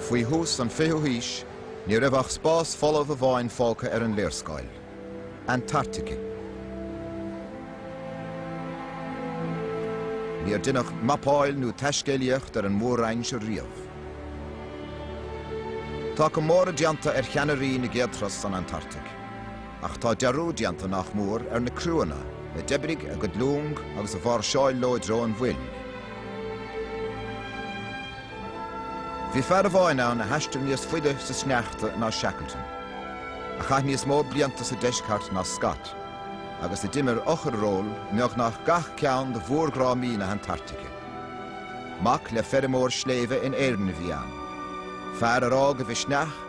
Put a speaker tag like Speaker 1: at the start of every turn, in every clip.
Speaker 1: Faoi thús an 20ú haois, ní raibh ach spás folamh amháin fágtha ar an léarscáil, Antartaice. Níor deineadh mapáil nó taiscéalaíocht ar an Mór-Roinn seo riamh. Tá comóradh déanta ar cheannairí na gcéad turas san Antartaic. Ach tá dearúd déanta nach mór ar na criúanna a d'oibrigh a gcuid long agus a mháirseáil leo i dtreo an Mhoil. Bhí fear amháin ann a thaistil níos faide sa sneachta ná Shackleton, a chaith níos mó blianta sa Deisceart ná Scott, agus a d'imir eochair-ról i mbeagnach gach ceann de mhórdhrámaí na hAntartaice. Mac le feirmeoir sléibhe in Éirinn a bhí ann, fear ar fhág a mhisneach,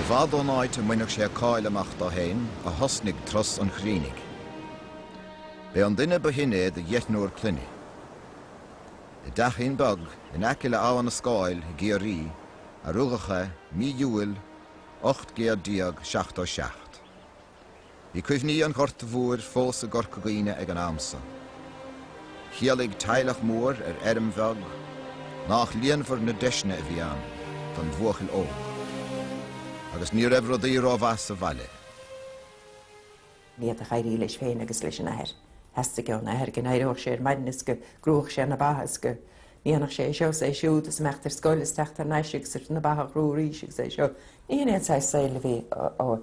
Speaker 1: I bhfad ón áit a mbainfeadh sé cáil amach dó féin a thosnaigh turas an Chrínigh. B'é an duine ba shine é de dheichniúr clainne. I dteachín beag in aice le hAbha na Scáil i gCiarraí a rugadh é, mí Iúil 1877. Bhí cuimhní an Ghorta Mhóir fós i gCorca Dhuibhne ag an am san. Chiallaigh teaghlach mór ar fheirm bheag nách líonmhar na deiseanna a bhí ann don bhuachaill óg. Agus ní raibh rudaí ró-mhaith sa bhaile. Ní
Speaker 2: fhéadfadh éirí leis féin agus leis an athair. Theastaigh ón athair go n-éireodh sé ar maidin is go gcrúfadh sé na baithe is go ndéanfadh sé é seo is é siúd is imeacht ar scoil is teacht thar n-ais agus na baithe a chrú arís agus é seo. Ní hin aon saghas saoil a bhí ó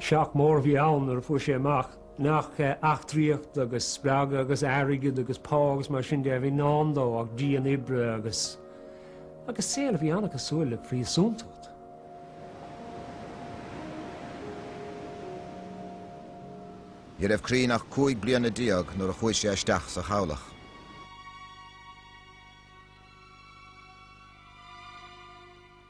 Speaker 3: Shock mór a bhí ann nuair a fuair sé amach nach eachtraíocht agus spreagadh agus airgead agus pá agus mar sin de a bhí i ndán dó ach dian oibre agus agus saol a bhí an-cosúil le príosúntacht.
Speaker 1: Ní raibh Crean ach cúig bliana déag nuair a chuaigh sé isteach sa chabhlach.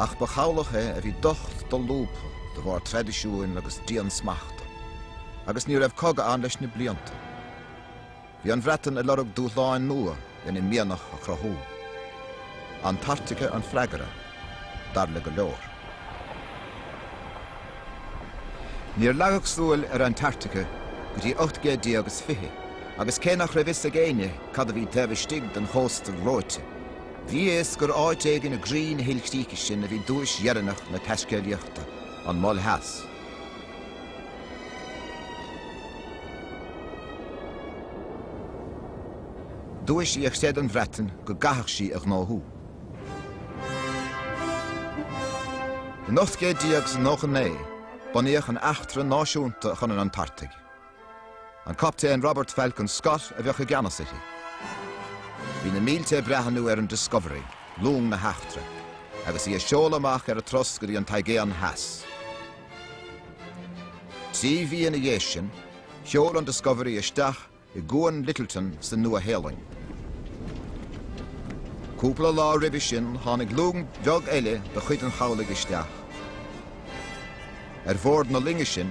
Speaker 1: Ach ba chabhlach é a bhí docht dolúbtha de bharr traidisiúin agus diansmachta, agus ní raibh cogadh ann leis na blianta. Bhí an Bhreatain ag lorg dúshláin nua lena mianach a chruthú. Antartaice an freagra, dar le go leor. Níor leagadh súil ar Antartaice go dtí ocht gcéad déag is fiche, agus cé nach raibh a fhios ag éinne cad a bhí taobh istigh den chósta reoite, Bhí a fhios gur áit éigin i gcroí na hilchríche sin a bhí duais dheireanach na taiscéalaíochta, an Mol Theas. Duais í a chreid an Bhreatain go gcaithfeadh sí a ghnóthú. In 1899, bunaíodh an Eachtra Náisiúnta chun an Antartaigh. An Captaen Robert Falcon Scott a bheadh i gceannas uirthi. Bhí na mílte ag breathnú ar an Discovery, long na heachtra, agus í ag seoladh amach ar a turas go dtí an tAigéan Theas. Trí mhí ina dhiaidh sin, sheol an Discovery isteach i gCuan Lyttelton sa Nua-Shéalainn. Cúpla lá roimhe sin tháinig long bheag eile de chuid an chabhlaigh isteach. Ar bhord na loinge sin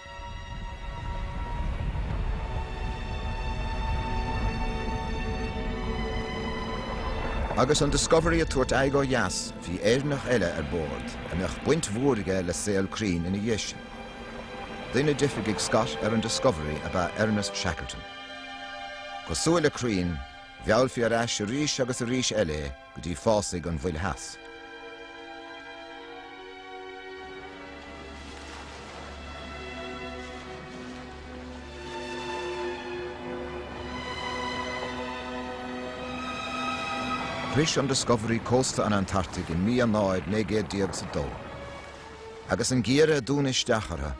Speaker 1: Agus an Discovery ag tabhairt aghaidh ó dheas, bhí Éireannach eile ar bord a mbeadh baint mhór aige le saol Crean ina dhiaidh sin. Duine d'oifigigh Scott ar an Discovery ab ea Ernest Shackleton. Cosúil le Crean, mheallfaí ar ais arís agus arís eile é, go dtí fásaigh an Mhoil Theas. Shroich an Discovery cósta an Antartaigh i mí Eanáir 1900 is a dó, agus an geimhreadh ag dúnadh isteach orthu,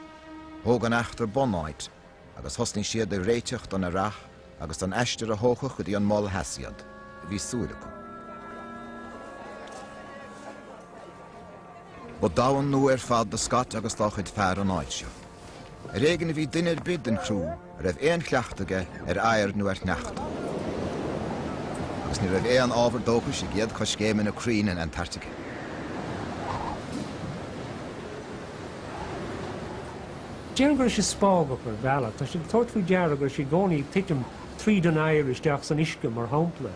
Speaker 1: thóg an eachtra bunáit agus thosnaigh siad ag réiteach don earrach agus don aistear a thógfadh go dtí an mol theas iad, bhí súil acu. Ba domhan nua ar fad do Scott agus dá chuid fear an áit seo. Ar éigean a bhí duine ar bith den chriú a raibh aon chleachtadh aige ar oighear nó ar shneachta, agus ní raibh aon ábhar dóchais i gcéad choiscéimeanna Crean in Antartaice.
Speaker 3: Déarfainn go raibh sé spágach ar bhealach. Tá sé ag tabhairt faoi deara go raibh sé i gcónaí ag titim tríd an oighear isteach san uisce, mar shampla.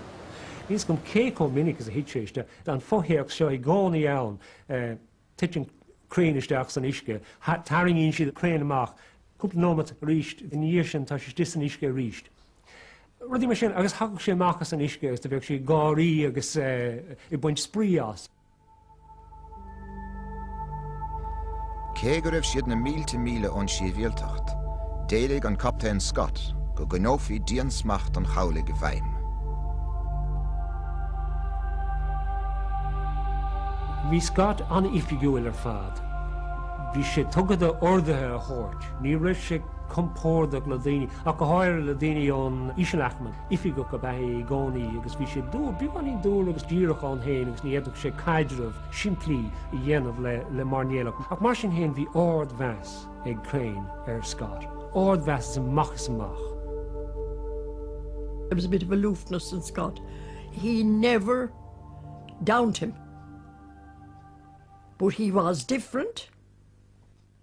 Speaker 3: Níl a fhios agam cé chomh minic is a thit sé isteach. Tá an fothéacs seo i gcónaí ann, Titeann Crean isteach san uisce, tarraingíonn siad Crean amach, cúpla nóimeat aríst ina dhiaidh sin tá sé istigh san uisce aríst. Rudaí mar sin, agus thagadh sé amach as an uisce agus do bheadh sé ag gáirí agus ag baint spraoi as.
Speaker 1: Cé go raibh siad na mílte míle ón sibhialtacht, d'éiligh an Captaen Scott go gcoinneofaí diansmacht an chabhlaigh i bhfeidhm.
Speaker 3: Bhí Scott an-oifigiúil ar fad. Bhí sé tugtha do orduithe a thabhairt. Ní raibh sé compordach le daoine, ach go háirithe le daoine ón ísealaicme. Oifigeach ab ea é i gcónaí agus bhí sé dúr, beagáinín dúr agus díreach ann féin agus ní fhéadfadh sé caidreamh simplí a dhéanamh le mairnéalach. Ach mar sin féin bhí ardmheas ag Crean ar Scott, ardmheas as amach is amach.
Speaker 4: There was a bit of aloofness in Scott. He never downed him. But he was different.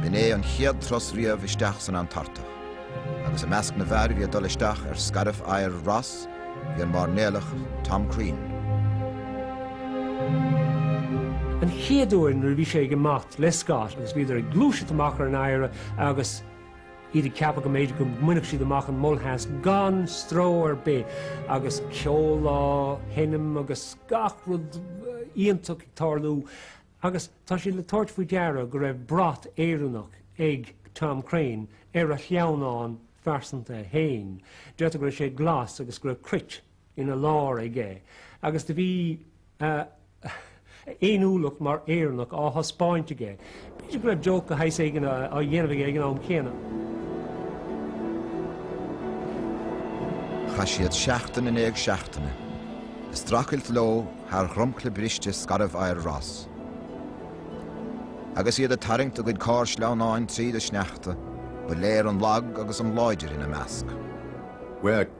Speaker 1: B'in é an chéad turas riamh isteach san Antartach, agus i measc na bhfear a bhí ag dul isteach ar scairbh oighir Ross bhí an mairnéalach Tom
Speaker 3: Crean. An chéad uair nuair a bhí sé ag imeacht le Scott agus bhíodar ag gluaiseacht amach ar an oighre agus, iad ag ceapadh go mb'fhéidir go mbainfeadh siad amach an Mol Theas gan stró ar bith, agus ceol á sheinm agus gach rud iontach ag tarlú. Agus tá siad le tabhairt faoi deara go raibh brat Éireannach ag Tom Crean ar a shleamhnán phearsanta fhéin. Deirtear go raibh sé glas agus go raibh cruit ina lár aige agus do bhí a fhéiniúlacht mar Éireannach á thaispeáint aige. B'fhéidir go raibh joke de shaghas éigin á dhéanamh aige ag an am céanna.
Speaker 1: Chaith siad seachtain i ndiaidh seachtaine, ag strachailt leo thar dhromchla briste scairbh oighir Ross. Agus iad ag tarraingt a gcuid carr sleamhnáin tríd an sneachta, ba léir an lag agus an láidir ina measc. Bheadh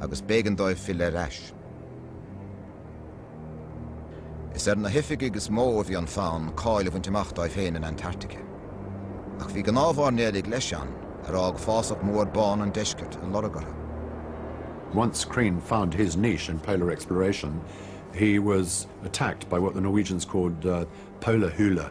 Speaker 1: agus b'éigean dóibh filleadh ar ais. Is ar na hoifigigh is mó a bhí an fonn cáil a bhaint amach dóibh féin in Antarctica. Ach bhí gnáthmhairnéalaigh leis ann ar fhág fásach mór bán an deiscirt a lorg
Speaker 5: orthu. Once Crean found his niche in polar exploration, he was attacked by what the Norwegians called the polarhullar,